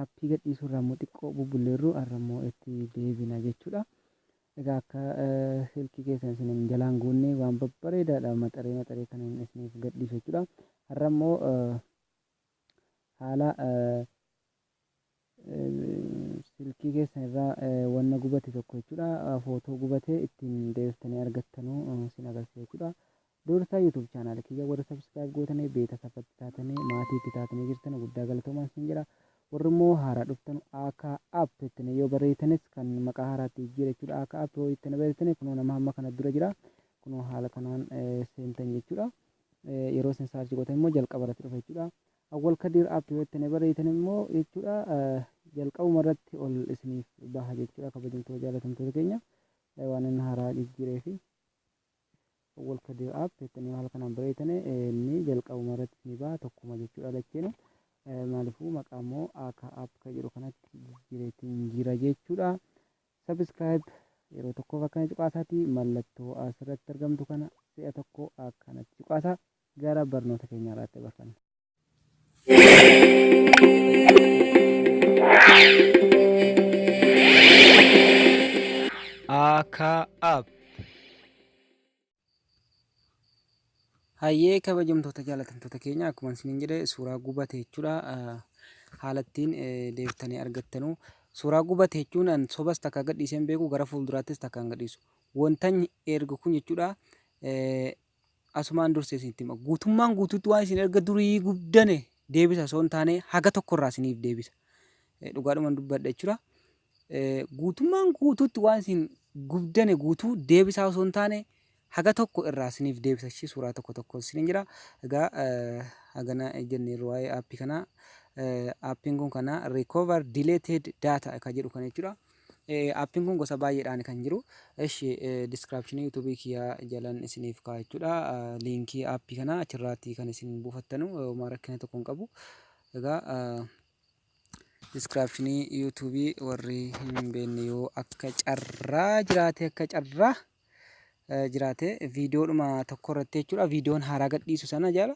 Appii gadhiisuu irraa immoo xiqqoo bubbulleerru har'a immoo itti deebina jechuudha. Egaa akka silkii keessan isin hin jalaan guunne waan babbareedaadha maxaree maxaree kan hin isiniif gadhiisu jechuudha. Har'a immoo haala silkii keessan irraa wanna gubate tokko jechuudha. Footoo gubate ittiin deebiftanii argattanu isin agarsiisa jechuudha. Dursa YouTube channel kiyya warri subscribe gootanii beetasab itti taatanii maatii itti taatanii jirtan guddaa galatoomaa isin jedha. Warri immoo haaraa dhuftan akka app ittiin yoo barreeytanis kan maqaa haaraatti jijjiira jechuudha. Akka app yoo ittiin barreeytanii kunoo nama hamma kana dura jira. Kunoo haala kanaan seentan jechuudha. Yeroo isin saarchi gootan immoo jalqaba irratti dhufa jechuudha. Awwal Kadir app yoo ittiin barreeytan immoo jechuudha jalqabuma irratti ol isiniif baha jechuudha kabajamtoota jaalatamtoota keenya waan inni haaraa jijjiireefi. Walkadir app jettanii haala kanaan bareeytane inni jalqabuma irratti isinii baha tokkuma jechuudha lacheenu maalifuu maqaa immoo akka app ka jedhu kanatti jijjiireetiin jira jechuudha subscribe yeroo tokkoof akkana cuqaasaati mallattoo asirratti argamtu kana si'a tokko akkanatti cuqaasa gara barnoota keenyaa irratti barfanna. Aakaa App. Hayyee kabajamtoota jaalatamtoota keenya akkuma isiniin jedhe suuraa gubate jechuudha. Haala ittiin deebitanii argattanu. Suuraa gubate jechuun an sobas takka gadhiisee hin beeku gara fuulduraattis takka hin gadhiisu. Wantan ergu kun jechuudha Asumaan dursee isinitti hima. Guutummaan guutuutti waan isin erga durii gubdane deebisa osoo hin taane haga tokkorraa isiniif deebisa. Dhugaadhuman dubbadha jechuudha. Guutummaan guutuutti waan isin gubdane guutuu deebisaa osoo hin taane haga tokko irraa isiniif deebisa. Ishii suuraa tokko tokko isiniin jira. Egaa hagana jennee waa'ee aappii kanaa. Aappiin kun kana recover deleted data kan jedhu kana jechuudha. Eh, appin kun gosa baay'eedhaan kan jiru. Eshi eh, description YouTube kiyaa jalan isiniif kaa jechuudha. Ah, liinkii appii kana achirraatti kan isin buufattanu eh, homaa rakkina tokko hin qabu. Egaa ah, description YouTube warri hin beekne yoo akka carraa jiraate akka carraa jiraate viidiyoodhuma tokko irratti jechuudha viidiyoon haaraa gadhiisu sana jala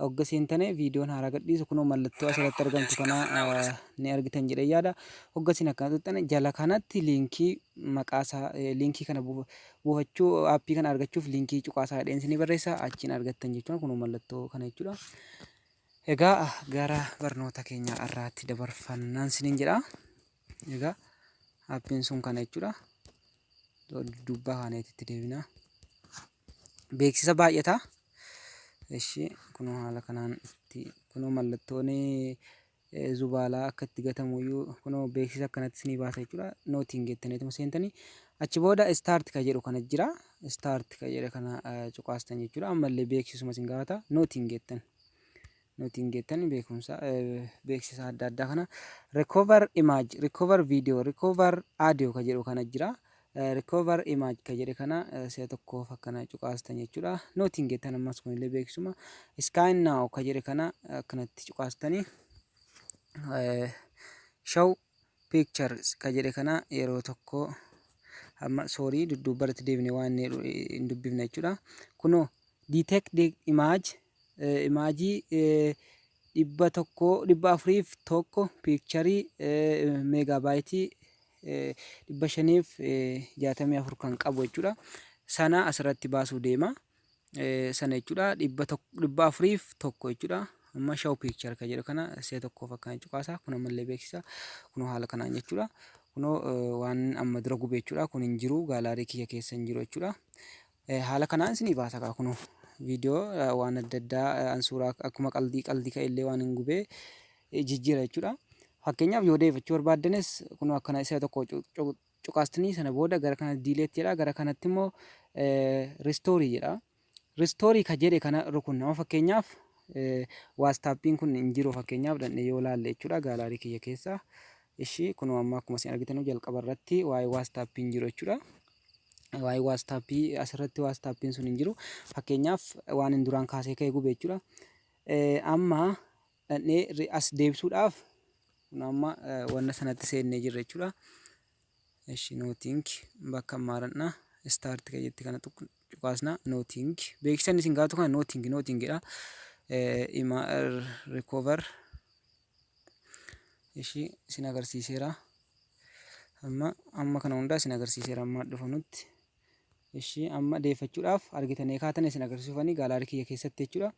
hogga seentane viidiyoon haaraa gadhiisu kunoo mallattoo asirratti argamtu kana ni argitan jedhee yaada hogga isin akkana tuttane jala kanatti liinkii maqaasaa liinkii kana buufachuu aappii kana argachuuf liinkii cuqaasaa jedheen isinii barreessa achiin argattan jechuudha kunoo mallattoo kana jechuudha. Egaa gara barnoota keenya irraatti dabarfannaan isiniin jedha. Egaa appiin sun kana jechuudha. Dubbaa kaaneetti itti deebinaa. Beeksisa baay'ata. Ishee kunoo haala kanaan itti kunoo mallattoon zubaalaa akka itti gatamu iyyuu kunoo beeksisa akkanatti isinii baasa jechuudha. Nootiin geettaniituma seentanii achi booda istaarti ka jedhu kana jira. Istaarti ka jedhe kana cuqaastan jechuudha. Ammallee beeksisuma isin gaafata. Nootiin geettan. nuti hin geettan beekumsa beeksisa adda addaa kana recover image recover video recover audio ka jedhu kana jira recover image ka jedhe kana si'a tokkoof akkana cuqaastan jechuudha nuti hin geettan ammas kunillee beeksisuma sky now ka jedhe kana akkanatti cuqaastanii show pictures ka jedhe kana yeroo tokko amma soorii dudduubbarratti deebine waan hin dubbifne jechuudha kunoo detect the image imaajii 100, 401 piikcharii meegaabaayitii 564 kan qabu jechuudha. Sana asirratti baasuu deema. Sana jechuudha 401 jechuudha. Amma shaw piikchar kan jedhu kana si'a tokkoof akkana cuqaasa. Kun ammallee beeksisa. Kun haala kanaan jechuudha. Kun waan amma dura gube jechuudha. Kun hin jiru gaalaarii kiyya keessa hin jiru jechuudha. Eh, haala kanaan isinii baasa kaa kunoo viidiyoo eh, waan adda addaa eh, an suuraa ak- akkuma qaldii qaldii ka'e illee waan hin gubee eh, jijjiira jechuudha. Fakkeenyaaf yoo deebifachuu barbaaddanis kunoo akkana isa tokko cu- cu- cuqaastanii sana booda gara kana diileet jedha gara kanatti immoo eh, ristoorii jedha. Ristoorii ka jedhe kana rukunna amma fakkeenyaaf eh, waastaappiin kun hin jiru fakkeenyaaf dhandhee yoo laalle jechuudha gaalaarii kiyya keessa. Ishii kunoo amma akkuma isin argitanuu jalqaba irratti waa'ee waastaappii hin jiru jechuudha. waa'ee waastaappii asirratti waastaappiin sun hin jiru fakkeenyaaf waan hin duraan kaasee ka'e gube jechuudha amma dhannee as deebisuudhaaf kun amma wanna sanatti seennee jirra jechuudha eshi nooting bakka maaranna istaarti kayyetti kana cuqaasna nooting beeksisan isin gaatu kana nooting nootingidha ima rikoover ishii isin agarsiiseera amma amma kana hundaa isin agarsiiseera amma dhufanutti ishii amma deeffachuudhaaf argitanii kaatan isin agarsiisufanii gaalaarii kiyya keessatti jechuudha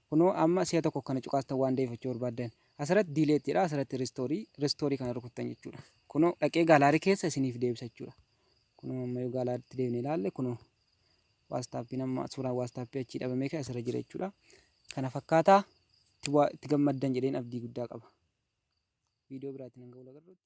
kunoo amma si'a tokko kana cuqaastan waan deeffachuu barbaaddan asirratti diileettidha asirratti ristoorii ristoorii kana rukuttan jechuudha kunoo dhaqee gaalaarii keessa isiniif deebisa jechuudha kunoo amma yoo gaalaaritti deebine ilaalle kunoo waastaappiin amma suuraan waastaappii achii dhabamee kan asirra jira jechuudha. Kana fakkaataa itti gammaddan jedheen abdii guddaa qaba. Viidiyoo biraatiin hanga wal agarruutti.